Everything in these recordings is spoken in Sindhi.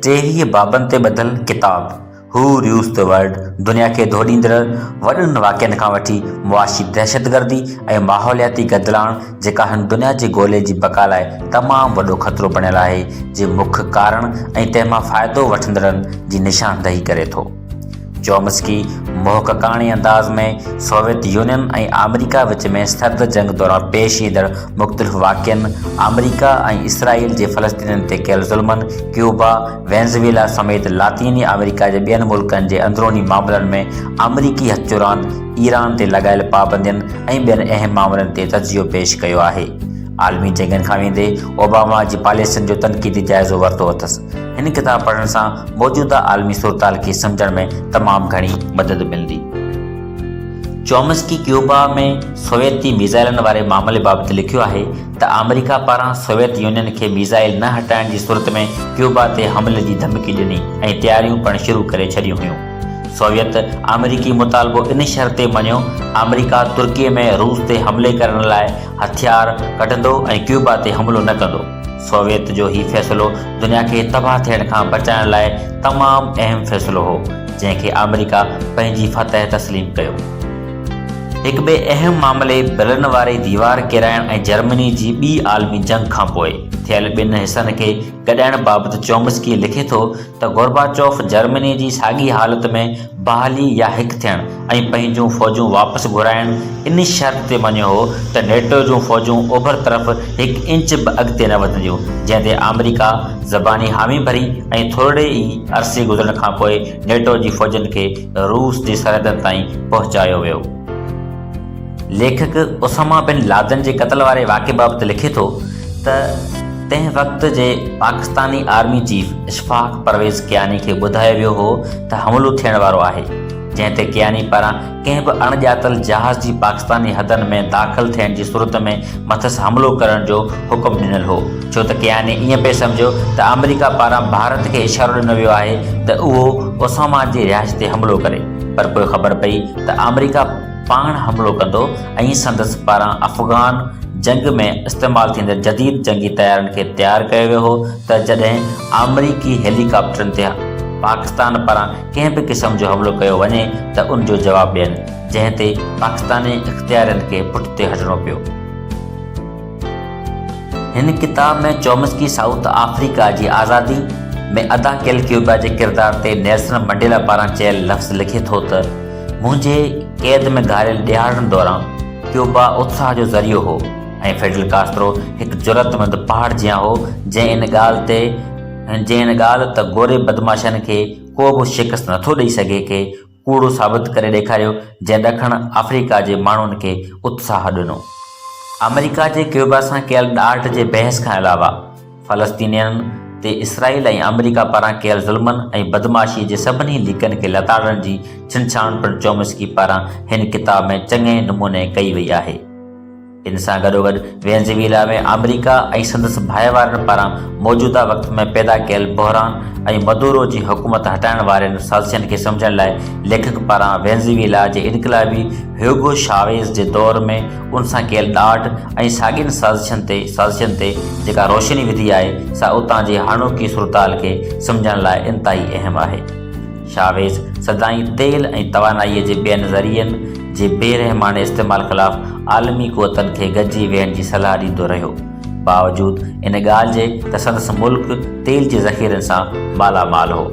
ٽيهيء بابن تي ٻڌل ڪتاب Who Rules the World دنيا کي ڌوڏيندڙ وڏن واقعن کان وٺي معاشي دهشتگردي ۽ ماحولياتي گدلاڻ جيڪا هن دنيا جي گولي جي بقا لاء تمام وڏو خطرو بڻيل آهي جي مک ڪارڻ ۽ تنهن مان فائدو وٺندڙن جي نشاندهي ڪري ٿو. چومسڪي محققاڻي انداز ۾ سوويت يونين ۽ آمريڪا وچ ۾ سرد جنگ دوران پيش ايندڙ مختلف واقعن، آمريڪا ۽ اسرائيل جي فلسطينين تي ڪيل ظلمن، ڪيوبا، وينزويلا سميت لاطيني آمريڪا جي ٻين ملڪن جي اندروني معاملن ۾ آمريڪي هٿ راند، ايران تي لڳايل پابندين ۽ ٻين اهم معاملن تي تجزيو پيش ڪيو آهي. عالمي جنگن کان ويندي اوباما جي پاليسين جو تنقيدي جائزو ورتو اٿس. هن ڪتاب پڙهڻ سان موجوده عالمي صورتحال کي سمجهڻ ۾ تمام گهڻي مدد ملندي. چومسڪي ڪيوبا ۾ سوويتي ميزائلن واري معاملي بابت لکيو آهي ته آمريڪا پاران سوويت يونين کي ميزائل نه هٽائڻ جي صورت ۾ ڪيوبا تي حملي جي ڌمڪي ڏني ۽ تياريون پڻ شروع ڪري ڇڏيون هيون. سوويت آمريڪي مطالبو ان شرط تي مڃيو، آمريڪا ترڪي ۾ روس تي حملي ڪرڻ لاء هٿيار ڪڍندو ۽ ڪيوبا تي حملو نه ڪندو. سوويت جو هي فيصلو دنيا کي تباهه ٿيڻ کان بچائڻ لاء تمام اهم فيصلو هو، جنهن کي آمريڪا پنهنجي فتح تسليم ڪيو. هڪ ٻئي اهم معاملي برلن واري ديوار ڪيرائڻ ۽ جرمني جي ٻي عالمي جنگ کانپوء ٿيل ٻن حصن کي گڏائڻ بابت چومسڪي لکي ٿو ته گورباچوف جرمني جي ساڳي حالت ۾ بحالي يا هڪ ٿيڻ ۽ پنهنجون فوجون واپس گهرائڻ ان شرط تي مڃيو هو ته نيٽو جون فوجون اوڀر طرف هڪ انچ به اڳتي نه وڌنديون جنهن تي آمريڪا زباني حامي ڀري ۽ ٿورڙي ئي عرصي گذرڻ کانپوء نيٽو جي فوجن کي روس جي سرحدن تائين پهچايو ويو. ليکڪ اساما بن لادن جي قتل واري واقعي بابت لکي ٿو ته تنهن وقت جي پاڪستاني آرمي چيف اشفاق پرويز ڪياني کي ٻڌايو ويو هو ته حملو ٿيڻ وارو آهي جنهن تي ڪياني پاران ڪنهن به اڻ ڄاتل جهاز جي پاڪستاني حدن ۾ داخل ٿيڻ جي صورت ۾ مٿس حملو ڪرڻ جو حڪم ڏنل هو ڇو ته ڪياني ائين پئي سمجهيو ته آمريڪا پاران ڀارت کي اشارو ڏنو ويو آهي ته اهو اساما جي رهائش تي حملو ڪري پر پوء خبر پئي ته آمريڪا پاڻ حملو ڪندو ۽ سندس پاران افغان جنگ ۾ استعمال ٿيندڙ جديد جنگي طيارن کي تيار ڪيو ويو هو ته جڏهن آمريڪي هيلي ڪاپٽرن تي پاڪستان پاران ڪنهن به قسم جو حملو ڪيو وڃي ته ان جو جواب ڏين جنهن تي پاڪستاني اختيارين کي پٺتي هٽڻو پيو. هن ڪتاب ۾ چومسڪي سائوٿ آفريڪا جي آزادي ۾ ادا ڪيل ڪيوبا جي ڪردار تي نيلسن منڊيلا پاران چيل لفظ لکي ٿو ته، منهنجي قيد ۾ گهاريل ڏهاڙن دوران ڪيوبا اتساهه جو ذريعو هو ۽ فيڊل ڪاسترو هڪ جرئتمند پهاڙ جيان هو جنهن ان ڳالهه تي جنهن ان ڳالهه ته گوري بدمعاشن کي ڪو به شڪست نٿو ڏئي سگهي کي ڪوڙو ثابت ڪري ڏيکاريو جنهن ڏکڻ آفريڪا جي ماڻهن کي اتساهه ڏنو. آمريڪا جي ڪيوبا سان ڪيل ڏاڍ جي بحث کان علاوه، فلسطينين تي اسرائيل ۽ آمريڪا پاران ڪيل ظلمن ۽ بدمعاشيء جي سڀني ليڪن کي لتاڙڻ جي ڇنڇاڻ پڻ چومسڪي پاران هن ڪتاب ۾ چڱي نموني ڪئي وئي آهي. ان سان گڏوگڏ وينزويلا ۾ آمريڪا ۽ سندس ڀائيوارن پاران موجوده وقت ۾ پيدا ڪيل بحران ۽ مدورو جي حڪومت هٽائڻ وارين سازشن کي سمجهڻ لاء ليکڪ پاران وينزويلا جي انقلابي هيوگو شاويز جي دور ۾ ان سان ڪيل ڏاڍ ۽ ساڳين سازشن تي سازشن تي جيڪا روشني وڌي آهي سا اتان جي هاڻوڪي صورتحال کي سمجهڻ لاء انتهائي اهم آهي. شاويز سدائين تيل ۽ توانائيء جي ٻين ذريعن جي بي رحماڻي استعمال خلاف عالمي قوتن کي گڏجي ويهڻ جي صلاح ڏيندو رهيو. باوجود ان ڳالهه جي ته سندس ملڪ تيل جي ذخيرن سان مالا مال هو.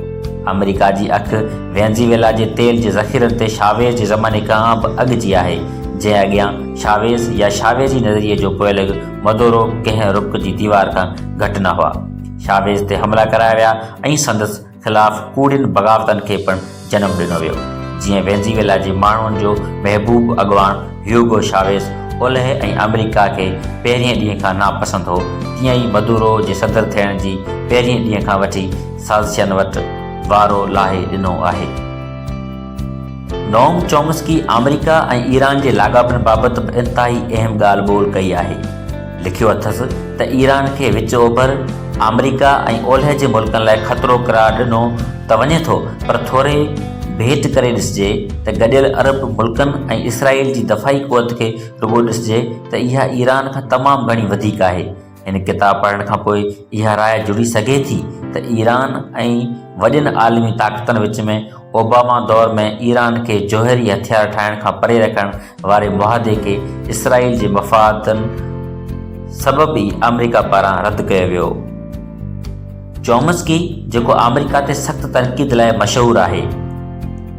آمريڪا جي اک وينزيويلا جي تيل جي ذخيرن تي شاويز جي زماني کان به اڳ جي آهي، جنهن اڳيان شاويز يا شاويزي نظريي جو پوئلڳ مدورو ڪنهن رڪ جي ديوار کان گهٽ نه هئا. شاويز تي حملا ڪرايا ويا ۽ سندس. خلاف ڪوڙين بغاوتن کي پڻ جنم ڏنو ويو، جيئن وينزيويلا جي ماڻهن جو محبوب اڳواڻ هيوگو شاويز اولهه ۽ آمريڪا کي پهرين ڏينهن کان ناپسند هو، تيئن ئي مدورو جي صدر ٿيڻ جي پهرين ڏينهن کان وٺي سازشين وٽ وارو لاهي ڏنو آهي. نوم چومسڪي آمريڪا ۽ ايران جي لاڳاپن بابت به انتهائي اهم ڳالهه ٻولهه ڪئي آهي. لکيو اٿس ته ايران کي وچ اوڀر، آمريڪا ۽ اولهه جي ملڪن لاء خطرو قرار ڏنو ته وڃي ٿو پر ٿوري ڀيٽ ڪري ڏسجي ته گڏيل عرب ملڪن ۽ اسرائيل جي دفاعي قوت کي رڳو ڏسجي ته اها ايران کان تمام گهڻي وڌيڪ آهي. هن ڪتاب پڙهڻ کان پوء اها راء جڙي سگهي ٿي ته ايران ۽ وڏين عالمي طاقتن وچ ۾ اوباما دور ۾ ايران کي جوهري هٿيار ٺاهڻ کان پري رکڻ واري معاهدي کي اسرائيل جي مفادن سبب ئي آمريڪا پاران رد ڪيو ويو. چومسڪي جيڪو آمريڪا تي سخت تنقيد لاء مشهور آهي،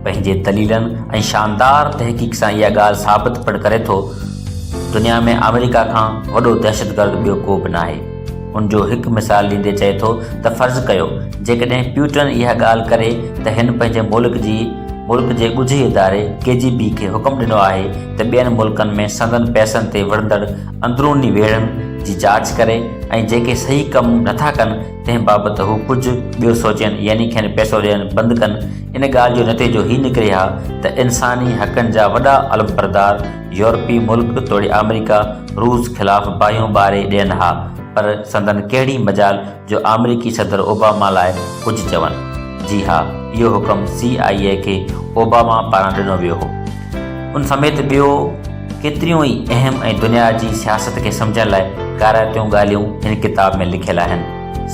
پنهنجي دليلن ۽ شاندار تحقيق سان اها ڳالهه ثابت پڻ ڪري ٿو، دنيا ۾ آمريڪا کان وڏو دهشتگرد ٻيو ڪو به ناهي. ان جو هڪ مثال ڏيندي چئي ٿو ته فرض ڪيو جيڪڏهن پيوٽن اها ڳالهه ڪري ته هن پنهنجي ملڪ جي ملڪ جي ڳجهي اداري ڪي جي بي کي حڪم ڏنو آهي ته ٻين ملڪن ۾ سندن پئسن تي وڙهندڙ اندروني ويڙهن جي جاچ ڪري ۽ جيڪي صحيح ڪم نٿا ڪن تنهن بابت هو ڪجهه ٻيو سوچين يعني کين پئسو ڏيڻ بند ڪن ان ڳالهه جو نتيجو هي نڪري ها ته انساني حقن جا وڏا علمبردار يورپي ملڪ توڙي آمريڪا روس خلاف باهيون ٻاري ڏين ها پر سندن ڪهڙي مجال جو آمريڪي صدر اوباما لاء ڪجهه چون. جي ها اهو حڪم سي آء اي کي اوباما پاران ڏنو ويو هو. ان سميت ٻيو ڪيتريون ئي اهم ۽ دنيا جي سياست کي سمجهڻ لاء ڪارائتيون ڳالهيون هن ڪتاب ۾ لکيل آهن.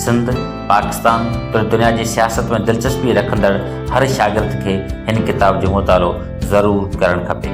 سنڌ، پاڪستان توڙي دنيا جي سياست ۾ دلچسپي رکندڙ هر شاگرد کي هن ڪتاب جو مطالعو ضرور ڪرڻ کپي.